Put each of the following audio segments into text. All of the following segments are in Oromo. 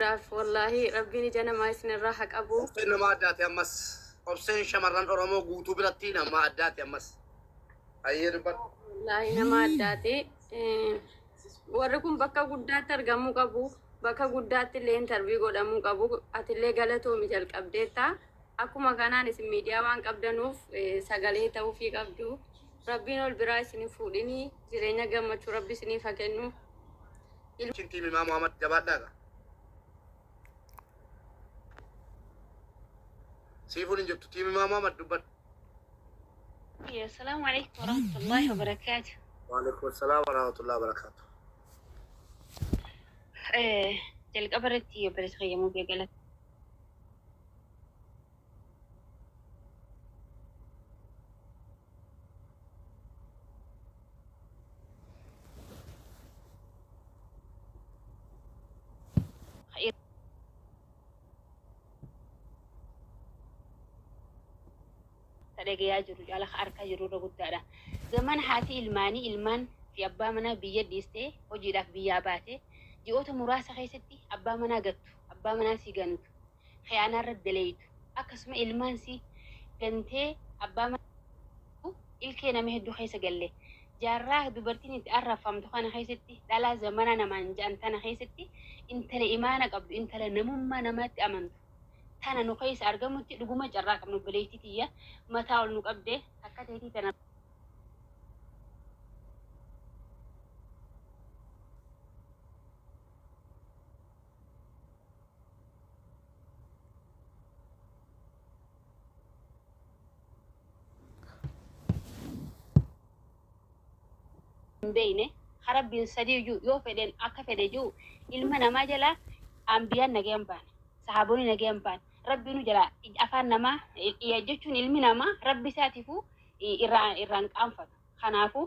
Daf wallahi rabbiin ija namaa isin irraa ha qabu. Obseen nama addaati ammas. Obseen shamarran Oromoo guutuu biratti nama addaati ammas. Hayyee dubbadhu. Wallahi nama addaati. Eh, Warri kun bakka guddaatti argamuu qabu. Bakka guddaatti illee intarvii godhamuu qabu. Ati illee galatoomi jalqabdeetta. Akkuma kanaan isin miidiyaa waan qabdanuuf eh, sagalee ta'uufii qabdu. Rabbiin ol biraa isin hin fuudhini. Jireenya gammachuu rabbi isiniif haa kennu. Ilma. Chin team Imaa Muhammad jabaadhaa ga. Siifuun hin jirtu team Imaa Muhammad dubbadhu. Assalamu alaikum warahmatullahi wabarakatuh. Waalaikum salaam wa rahmatullahi wa barakaatu. Eh, Jalqaba irratti obboleessa fayyamuu bee galata. dhagayaa jiru caala harka jiru irra guddaadha. Zaman haati ilmaanii ilmaan fi abbaa manaa biyya dhiistee hojiidhaaf biyyaa baate ji'oota muraasa keessatti abbaa manaa gattu abbaa manaa sii ganutu khiyaanaa irratti daleeydu akkasuma ilmaan si gantee abbaa mana kee jibbitu ilkee nama heddu keessa galle jaarraa dubartiin itti arrabfamtu kana keessatti dhalaa zamanaa namaan ja'an tana keessatti intala imaana qabdu intala namummaa namaatti amantu tana nu keessa argamutti dhuguma carraa qabna obboleeytii tiyya mataa ol nu qabde akka teetii tana hin beeyne ka rabbiin sadii iyyuu yoo fedheen akka fedhe jiru ilma namaa jalaa ambiyaan nagayan baane sahaabonni nagayan baane rabbiinu jalaa afaan namaa jechuun ilmi namaa rabbi isaatiifuu irraa irraan qaanfatu kanaafuu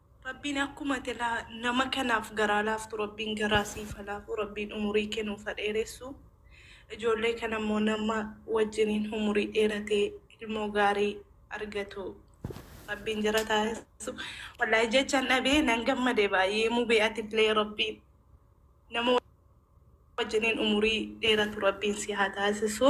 Rabbiin akkuma ati nama kanaaf garaa laaftu rabbiin garaa siif ha laafu rabbiin umurii kee nuuf ha dheeressu ijoollee kana immoo nama wajjiniin umurii dheeratee ilmoo gaarii argatu rabbiin jara taasisu wallaahi jechan dhabee nan gammade baay'ee mubee atillee rabbiin nama wajjiniin umurii dheeratu rabbiin si haa taasisu.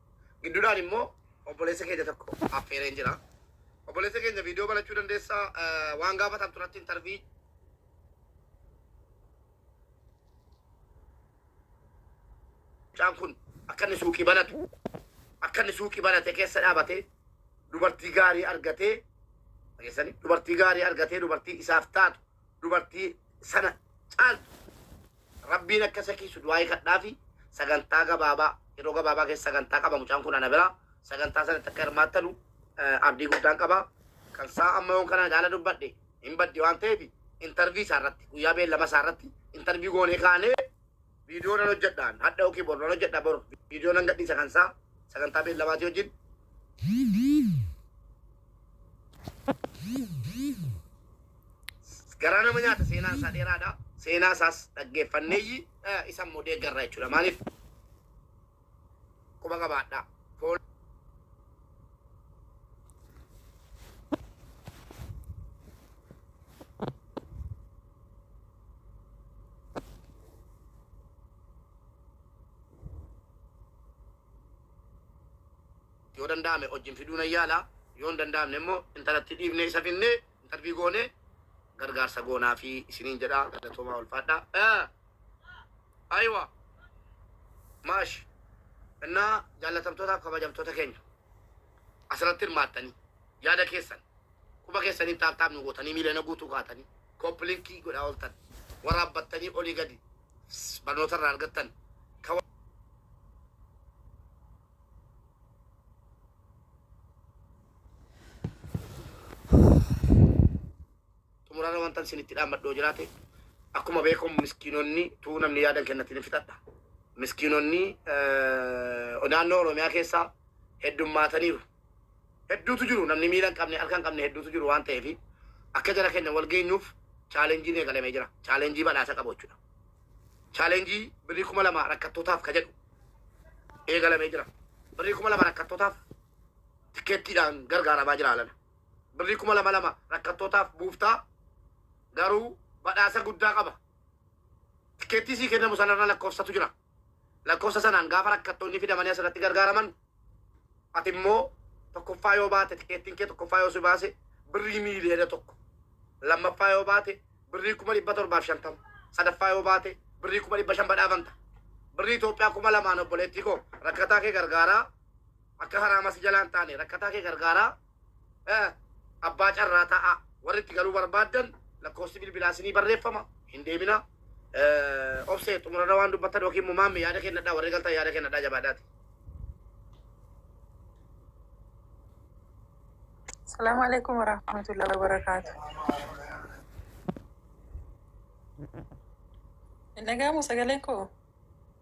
Gidduudhaan immoo obboleessa keenya tokko affeereen jira. Obboleessa keenya viidiyoo banachuu dandeessaa eh, waan gaafatamtu irratti intarvii mucaan kun akka inni suuqii banatu akka inni suuqii banate keessa dhaabatee dubartii gaarii argatee dhageessanii dubartii gaarii argatee dubartii isaaf taatu dubartii sana caaltu rabbiin akka isa kiisu du'aa'ii kadhaafi sagantaa gabaabaa yeroo gabaabaa keessa sagantaa qaba mucaan kun ana biraa sagantaa sanatti akka hirmaattanu eh, abdii guddaan qaba kan isaa amma yoon kana ilaala dubbadhe hin baddi waan ta'eef intarvii isaa irratti guyyaa beellama isaa irratti intarvii goonee kaanee Viidiyoo nan hojjedha an hadha yookiin bor nan hojjedha bor viidiyoo nan gadhiisa kan isaa sagantaa beellamaatii wajjin. Garaa nama nyaata seenaan isaa dheeraadha. Seenaa isaas dhaggeeffanneeyyi isa immoo deeggarra jechuudha. Maaliif quba qabaadhaa. Fool- yoo danda'ame wajjin fiduu nan yaala yoo hin danda'amne immoo intalatti dhiibnee isa finnee intarvii goonee gargaarsa goonaa fi isiniin jedha galatoomaa ulfaadhaa. Aywa. Maash. Innaa jaallatamtootaa fi kabajamtoota keenya asirratti hirmaattanii yaada keessan quba keessaniin taaptaap nu gootanii miiliyoona guutuu kaatanii kooppilinkii godhaa ooltan waraabbattanii olii gadi barnoota irraa argattan kan Xumurarra wantan sinitti dhaammadhu yoo jiraate akkuma beekamu miskiinonni tuu namni yaadan kennatti ni fixadha. Miskiinonni eh, naannoo Oromiyaa keessaa heddummaataniiru. Hedduutu jiru namni miila hin qabne harka hin qabne hedduutu jiru waan ta'eef akka jara kenna wal geenyuuf chaalenjiin eegalamee jira. Chaalenjii badhaasa qabu jechuudha. Chaalenjii birrii kuma lama rakkattootaaf ka jedhu eegalamee jira. Birrii kuma lama rakkattootaaf tikkeettiidhaan gargaaramaa jira alana. Birrii kuma lama lama rakkattootaaf buufta, garuu badhaasa guddaa qaba. Tikkeettii sii kennamu sanarra lakkoofsatu jira. Lakkoofsa sanaan gaafa rakkattoonni fidamanii asirratti gargaaraman, ati immoo tokkoffaa yoo baate, tikkeettiin kee tokkoffaa yoo si baase birrii miiliyoona tokko, lammaffaa yoo baate birrii kuma dhibba torbaaf shantama, sadaffaa yoo baate birrii kuma dhibba shan badhaafamta. Birrii Itoophiyaa kuma lamaan obboleettii koo rakkataa kee gargaaraa. Akka haraama si jalaa hin taane rakkataa kee gargaaraa eh, abbaa carraa ta'aa. Warri itti galuu barbaaddan lakkoofsi bilbilaa isinii barreeffama hin deeminaa. Eh, Obsee xumurarra waan dubbattan yookiin immoo maamme yaada kennadhaa warri galtan yaada kennadhaa jabaadhaati. Salaamu alaikum warahmatullahi wabarakaatu. Nagaamu sagaleen koo.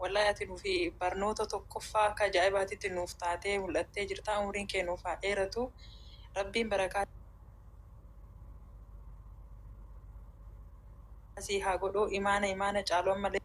Wallahi ati nufi barnoota tokkoffaa akka ajaa'ibaatitti nuuf taatee mul'attee jirtaa umriin kee nuuf haa dheeratu rabbiin barakaa sii haa godhuu imaana imaana caalu ammallee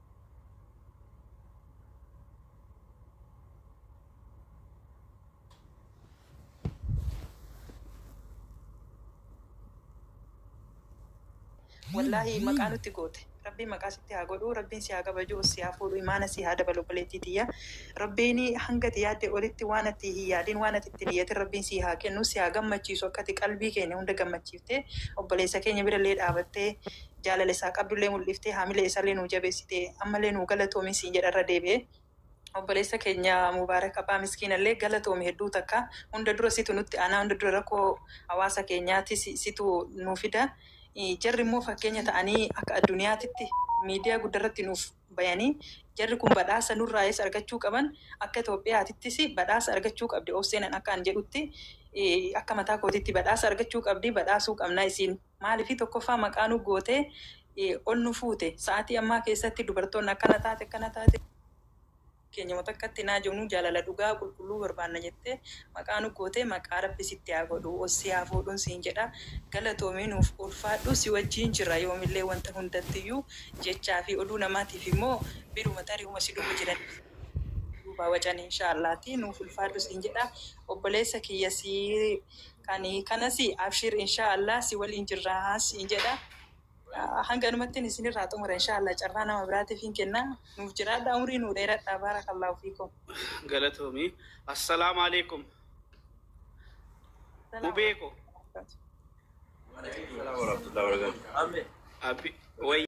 Wallaahi maqaa nutti goote. Rabbiin maqaa sitti haa godhu. Rabbiin si haa kabaju, si haa fuudhu, imaana si haa dabalu obboleettii tiyya. Rabbiin hanga ati yaadde olitti waan ati hin yaadin, waan ati itti hin iyyatin Rabbiin si haa kennu, si haa gammachiisu akka ati qalbii keenya hunda gammachiiftee obboleessa keenya bira illee dhaabattee jaalala isaa qabdullee muldhiftee haamilee isalee nuu jabeessitee ammalee nuu galatoomi siin jedha irra deebi'e obboleessa keenya Mubarak Abbaa miskiinallee galatoomi hedduu takka hunda dura situ nutti aanaa hunda dura rakkoo hawaasa keenyaatis situ nuu fida jarri immoo fakkeenya ta'anii akka adduniyaatitti miidiyaa guddarratti nuuf bayanii jarri kun badhaasa nurraayis argachuu qaban akka Itoophiyaatittis badhaasa argachuu qabdi Obseenan akka an jedhutti akka mataa kootitti badhaasa argachuu qabdi badhaasuu qabna isiin Maaliif tokkoffaa maqaa nu gootee ol nu fuute. Sa'aatii ammaa keessatti dubartoonni akkana taate akkana taate keenya moo takkatti naa jennuu jaalala dhugaa qulqulluu barbaanna jettee maqaa nu gootee maqaa rabbi sitti haa godhu ol si haa fuudhun siin jedha galatoomii nuuf ulfaadhu si wajjiin jirra yoomillee wanta hundattiyyuu jechaa fi oduu namaatiif immoo biruma tarii huma si dhufu jiran duubaa wacan inshaa allaah ti nuuf ulfaadhu siin jedha obboleessa kiyya si Kan kanasi abshiir inshaa Allah si waliin jirra siin jedha hanganumattin isinirraa xumura inshaa Allah carraa nama biraatifin kenna nuuf jiraadha umrii nuu dheeradha baarakallahu fiikum. Galatoomi. Assalaamu Aleeykum Mubee ko. Waaleykum salaam warahmatullahi wabarakatuh. Abi wayya.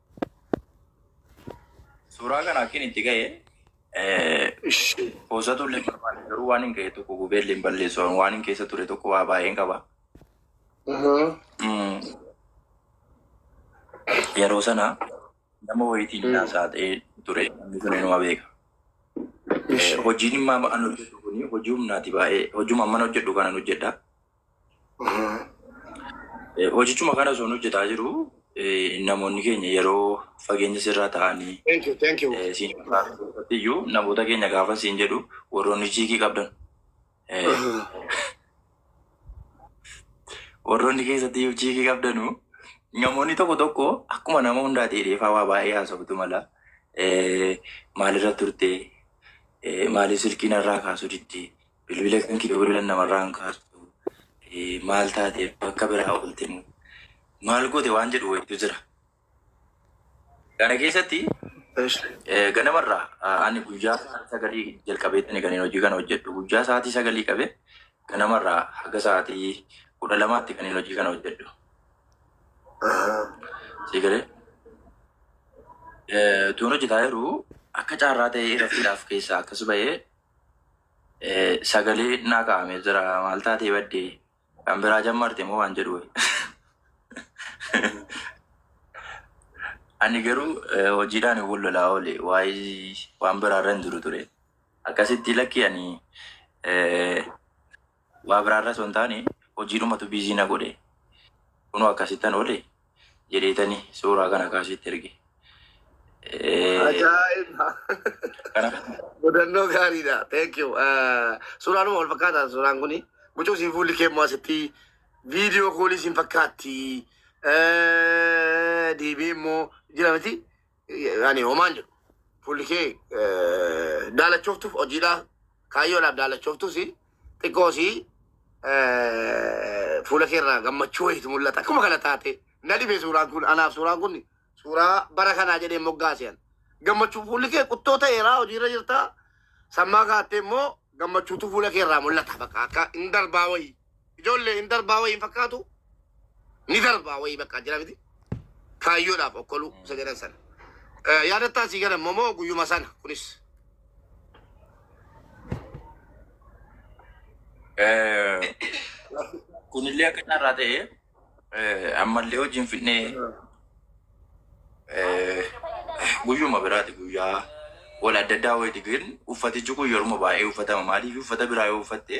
Suuraa kana akkin itti ga'e poosatu illee barbaade garuu waan hin ga'e tokko gubee illee hin balleessu waan hin keessa ture tokko waa baay'een qaba. Mm. Yeroo sana nama wayitiin Mm. naasaa ta'ee ture namni sun inuma beeka. Eh, Hojiin immoo amma an hojjedhu kun hojii humnaati baay'ee hojuma amman hojjedhu kanan hojjedha. Eh, Hojichuma kana osoo nu hojjetaa jiru eh, namoonni keenya yeroo fageenya sirraa ta'anii Thank you, thank you. eh, siin irratti iyyuu namoota keenya gaafa siin jedhu warroonni chiikii qabdan eh, warroonni keessatti iyyuu chiikii qabdanu namoonni tokko tokko akkuma nama hundaa ta'e dheefaa waa baay'ee haasoftu mala eh, maalirra turte eh, maaliif silkiin irraa kaasuu didde Bilbila kanke bilbilan namarraa hin kaartu maal taate bakka biraa oolte moo maal goote waan jedhu wayitu jira. Kana keessatti ganamarraa ani guyyaa sa'aatii sagalii jalqabeettani kan hojii kana hojjedhu guyyaa sa'aatii sagalii qabe ganamarraa haga sa'aatii kudha lamaatti kan hojii kana hojjedhu. Sigalee tuun hojjetaa jiru akka carraa ta'ee irrattiidhaaf keessaa akkas ba'ee Sagalee naa kaa'ame jira maal taatee badde kan biraa jammarte moo waan jedhu wayi. Ani garuu eh, hojiidhaan hin wallolaa oole waa'ee waan biraarra hin jiru ture. Akkasitti lakkii ani eh, Waa biraarra osoo hin taane hojiidhumatu busy na godhe. Kunoo akkasittan oole jedheetani suuraa kana kaa sitti erge. Eh, Ajaa'iba! Kanaaf Mudannoo gaariidha. Thank you. Eh, Suuraanuma wal fakkaata suuraan kuni. Mucoo siin fuulli kee immoo asitti viidiyoo koolii siin fakkaatti. Eh, Deebi'ee immoo jira miti. Ani homaan jedhu. Fuulli kee eh, daalachooftuuf hojiidhaa kaayyoodhaaf daalachooftuus xiqqoos eh, fuula kee irraa gammachuu wayiitu mul'ata. Akkuma kana taate na dhibee suuraan kun anaaf suuraan kun suuraa bara kanaa jedhee moggaaseen. Gammachuu fuulli kee quttoo ta'eeraa hojiirra jirtaa sammaa kaattee immoo gammachuutu fuula kee irraa mul'ata bakka akka hin darbaa wayii. Ijoollee hin darbaa wayii hin fakkaatu. Ni darbaa wayii bakka jira miti. Kaayyoodhaaf okkoluu isa jedhan sana. Eh, Yaadattaa sii galan momoo guyyuma sana kunis. Eh, kunillee akka carraa ta'e eh, ammallee hojiin fidnee eh, guyyuma biraati guyyaa wal adda addaa wayiti gin uffatichi kun yeruma baay'ee uffatama maaliif uffata biraa yoo uffatte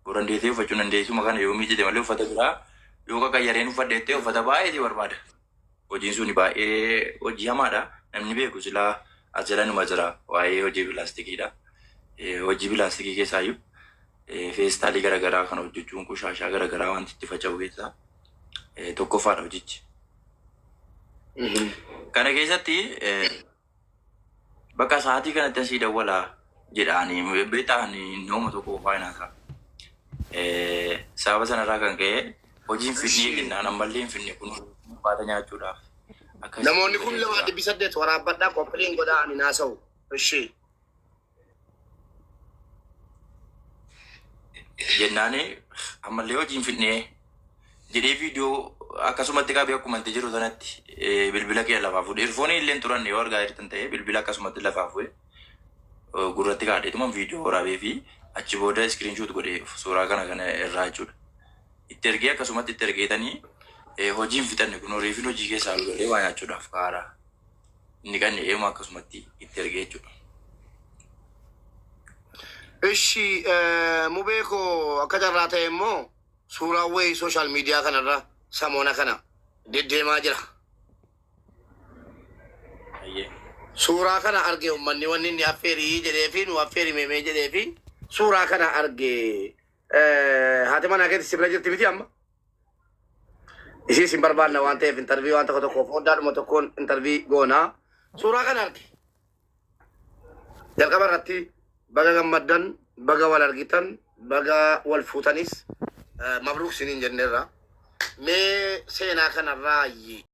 Yoo dandeessee uffachuu hin dandeessuma kana yoo miiccite malee uffata biraa yoo qaqayyareen uffadhe jettee uffata baay'ee si barbaada. Hojiin suni baay'ee hojii hamaadha. Namni beeku silaa as jala numa jira waa'ee hojii pilaastikiidha. Eh, Hojii pilaastikii keessaayyuu eh, feestaalii garaagaraa kana hojjechuun qushaashaa garaagaraa wanti itti faca'u keessaa eh, tokkoffaadha hojichi. Kana keessatti eh, Bakka sa'aatii kanatti asii dawwala jedhaani beektaan nama tokko qofaa hin haasaa. Sababa sanarraa kan ka'e hojiin finnee jennaan ammallee hin finne kun baata nyaachuudhaaf. Namoonni kun lamaa dhibbi saddeet waraabbadhaa qophiin godhaa ani naasa'u. Ishii. jennaani ammallee hojii hin fidnee jedhee viidiyoo akkasumatti qabee akkuma itti jiru sanatti eh, bilbila kee lafaa fuudhe irfoonii illee hin turanne yoo argaa jirtan ta'e bilbila akkasumatti lafaa fuudhe eh, gurratti kaadheetuma viidiyoo waraabee fi achi booda iskiriinshuut godhee suuraa kana kana irraa jechuudha. Itti ergee akkasumatti itti ergeetanii eh, hojii hin fixanne kun horiifin hojii keessaa galee waa nyaachuudhaaf kaara. Inni qanne eeyuma akkasumatti itti erge jechuudha. Ishi mubee koo akka carraa ta'e immoo suuraa wayii sooshaal miidiyaa kanarra samoona kana deddeemaa jira. Ayyee. Suuraa kana arge ummanni wanni inni affeerii jedhee fi nu affeeri meemee jedhee fi suuraa kana arge. Eh, Haati manaa keetti si bira jirti miti amma? Ishii isin barbaanna waan ta'eef intarvii waan tokko tokkoof hoddaadhuma tokkoon intarvii goona. Suuraa kana arge. Jalqaba irratti baga gammaddan, baga wal argitan, baga wal fuutanis eh, mabruuk isiniin jenneerra. Mee seenaa kanarraa